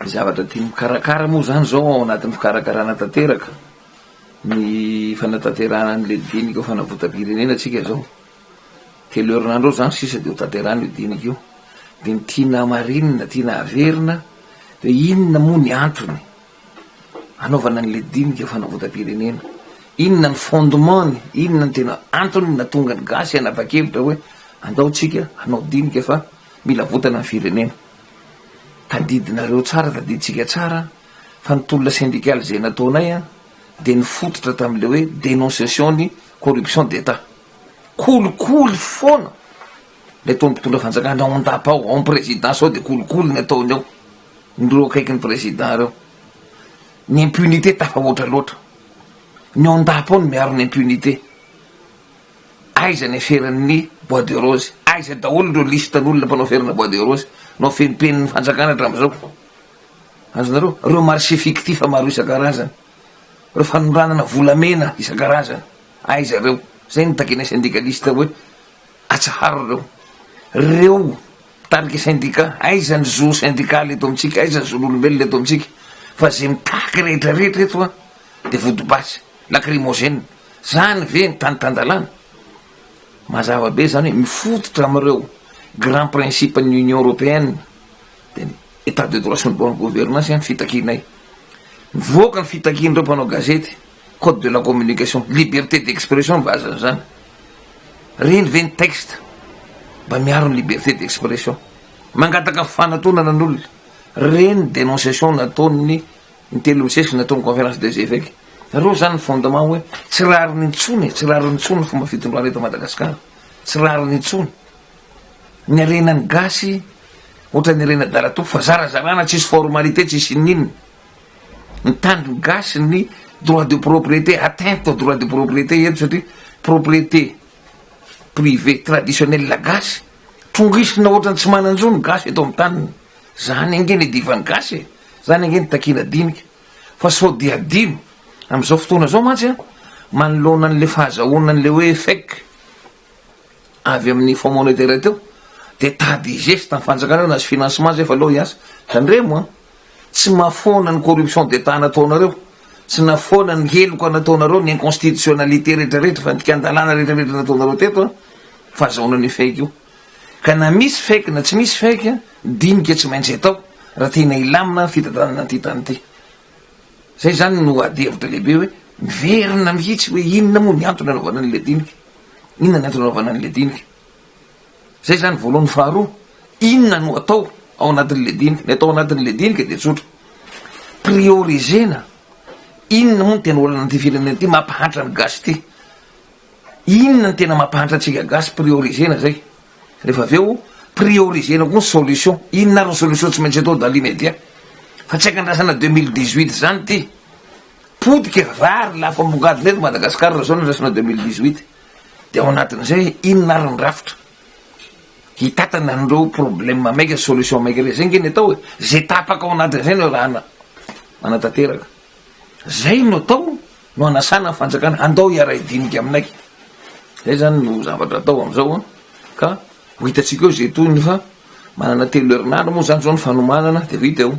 Ny zavatra tiany mikarakara moa izany izao ao anatin'ny fikarakarana tanteraka ny fanatanterahana ny le dinika ho fanavotam-pirenena tsika izao. Telo herinandro eo izany sisa dia ho tanterahana io dinika io. Dia ny tiana hamarinina, tiana haverina dia hoe inona moa ny antony hanaovana ny le dinika ho fanavotam-pirenena? Inona ny fondement-ny? Inona ny tena antony nahatonga ny gasy hanapa-kevitra hoe andao tsika hanao dinika fa Mila votana ny firenena. Tadidinareo tsara, tadidintsika tsara fa ny tolona sendikaly izay nataonay dia nifototra tamin'ilay hoe dénonciation ny corruption d'Etat. Kolikoly foana ilay tao ny mpitondra fanjakana ao an-dapa ao, ao ny présidence ao dia kolikoly ny ataony ao, ny ireo akaiky ny président ireo. Ny impunité tafahoatra loatra. Ny ao an-dapa ao no miaro ny impunité. Aiza ny aferan'ny bois de rose? Aiza daholo ireo listan'olona mpanao aferana bois de rose? Nao fenipenin'ny fanjakana hatramin'izao. Azonareo? Ireo marché fictif maro isan-karazany. Ireo fanondranana volamena isan-karazany. Aiza ireo? Izay no takianay syndikalista hoe atsaharo ireo. Ireo mpitarika syndicat, aiza ny zo sindikaly eto amintsika? Aiza ny zon'olombelona eto amintsika? Fa izay mitaky rehetra rehetra eto dia vodibasy. Lacrymogène. Zany ve ny tany tan-dalàna? Mazava be zany hoe mifototra amin'ireo grand principe ny Union Européenne, dia ny Etat de droit sy ny bonne gouvernance zany fitakianay. Mivoaka ny fitakian'ireo mpanao gazety, code de la communication, liberté d'expression ny vazany zany. Reny ve ny texte mba miaro ny liberté d'expression? Mangataka fifanatonana ny olona. Reny ny dénonciation nataon'ny Ny telo miseho natao ny conférence des évêques reo zany ny fondement hoe tsy rariny intsony e, tsy rariny intsony ny fomba fitondrana eto Madagascar, tsy rariny intsony. Ny harena ny gasy ohatran'ny harena dalatompo fa zarazarana tsisy formalité tsisy ininona. Ny tany gasy ny droit de propriété atteinte au droit de propriété eto satria propriété privée traditionnelle gasy trongisina ohatran'ny tsy manan-jo ny gasy eto amin'ny taniny. Zany ange ny divan'ny gasy e! Zany ange ny takina dinika! Fa sao dia adino! Amin'izao fotoana izao mantsy an! Manoloana an'ilay fahazahoana an'ilay hoe fake avy amin'ny Fonds monétaire int-eo dia tady higeste ny fanjakana eo na tsy financement aza efa aleo hiasa! Tandremo an! Tsy mahafoana ny corruption d'Etat nataonareo! Tsy nahafoana ny heloka nataonareo, ny inconstitutionnalité rehetra rehetra, fandikan-dalàna rehetra rehetra nataonareo teto an! Fahazahoana an'io fake io! Ka na misy fake na tsy misy fake, dinika tsy maintsy atao raha tena hilamina ny fitantanana an'ity tany ity. Izay izany no ady hevitra lehibe hoe miverina mihitsy hoe inona moa ny antony anaovana an'ilay dinika? Inona ny antony anaovana an'ilay dinika? Izay izany voalohany. Faharoa, inona no atao ao anatin'ilay dinika? Ny atao anatin'ilay dinika dia tsotra, prioriser-na inona moa no tena olana an'ity firenena ity mampahantra ny gasy ity. Inona no tena mampahantra antsika gasy priorisena zay refa avy eo priorisena koa ny solution inona ary ny solution tsy maintsy atao dans l'immédiat fa tsy ankandrasana deux mille dix huit zany ty potika vary lafambongadina eto Madagascar raha zao no andrasana deux mille dix huit de ao anatin'izay inona ary ny rafitra hitatana an'ireo problème maika solution maika ireo zay nge ny atao e zay tapaka ao anatin'izay no arahana manatanteraka zay no atao No hanasana ny fanjakana, andao hiara-hidinika aminay. Zay zany no zavatra atao amzao an, ka ho hitantsika eo ze tohiny fa manana telo herinandro moa zany zao ny fanomanana de vita eo.